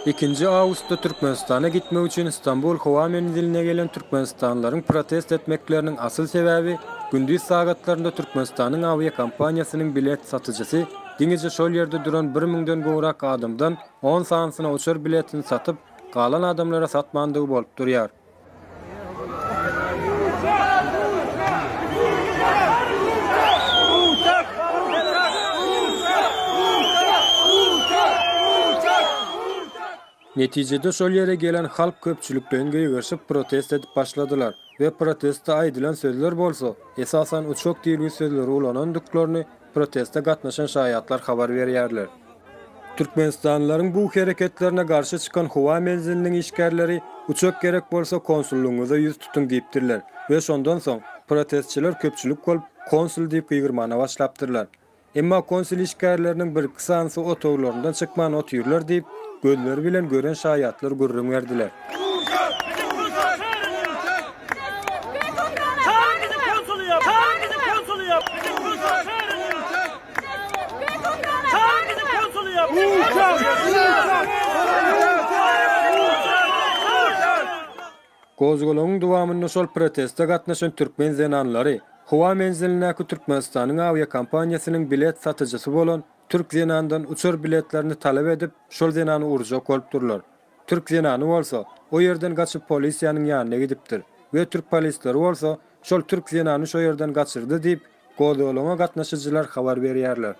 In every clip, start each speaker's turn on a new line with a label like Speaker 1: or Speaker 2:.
Speaker 1: Ikinji awgustda Türkmenistana gitmek üçin Stambul howa menziline gelen türkmenistanlylaryň protest etmekleriniň asyl sebäbi gündiz sagatlarynda Türkmenistanyň awiakompaniýasynyň bilet satyjysy diňeje şol ýerde duran bir müňden gowrak adamdan on sanysyna uçar biletini satyp, galan adamlara satmandygy bolup durýar. Netijede şol ýere gelen halk köpçülikleýin gögerişip protest edip başladylar we protestde aýdylan sözler bolsa, esasan uçok diýilgi sözleri ulanandyklaryny proteste gatnaşan şaýatlar habar berýärler. Türkmenistanlylaryň bu hereketlerine garşy çykan howa menziliniň işgärleri uçak gerek bolsa konsullygyňyza ýüz tutuň diýipdirler we şondan soň protestçiler köpçülik bolup konsul diýip gygyrmana başlapdyrlar. Emma konsul işgärleriniň birki sanysy otaglaryndan çykman otyrlar diýip, gözleri bilen gören şaýatlar gürrüň berdiler. Gozgalaňyň dowamynda şol proteste gatnaşan türkmen zenanlary howa menzilindäki Türkmenistanyň awiakompaniýasynyň bilet satyjysy bolan türk zenandan uçar biletlerini talap edip, şol zenany urjak bolup durlar. Türk zenany bolsa, o ýerden gaçyp polisiýanyň ýanyna gidipdir we türk polisleri bolsa, şol türk zenany şo ýerden gaçyrdy diýip, gozgalaňa gatnaşyjylar habar berýärler.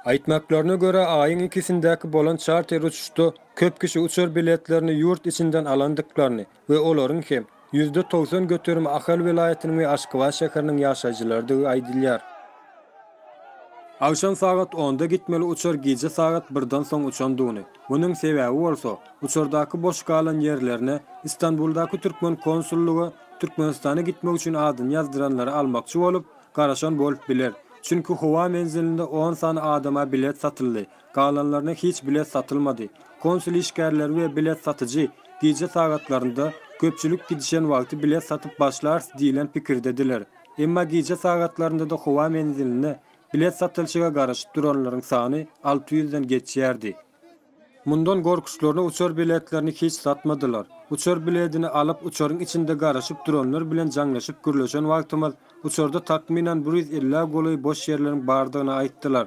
Speaker 1: Aýtmaklaryna görä, aýyň ikisindäki bolan çarter uçuşda köp kişi uçar biletlerini ýurt içinden alandyklaryny, we olaryň hem ýüzde togsan göterimi Ahal welaýatynyň we Aşgabat şäheriniň ýaşaýjylarydygy aýdylýar. Agşam sagat onda gitmeli uçar gije sagat birden soň uçandygyny, munuň sebäbi bolsa, uçardaky boş galan ýerlerine Istanbuldaky türkmen konsullygy Türkmenistana gitmek üçin adyny ýazdyranlary almakçy bolup, garaşan bolup biler, çünki howa menzilinde on sany adama bilet satyldy, galanlaryna hiç bilet satylmady. Konsul işgärleri we bilet satyjy gije sagatlarynda köpçülik gidişen wagty bilet satyp başlarys diýlen pikirdediler. Emma gije sagatlarynda-da howa menziline bilet satylşyga garaşyp duranlaryň sany alty ýüzden geçýärdi. Mundan gorkuşlaryna uçar biletlerini hiç satmadylar. Uçar biledini alyp uçaryň içinde garaşyp duranlar bilen jaňlaşyp gürleşen wagtymyz, uçarda takmynan bir ýüz elli-ä golaý boş ýerleriň bardygyny aýtdylar.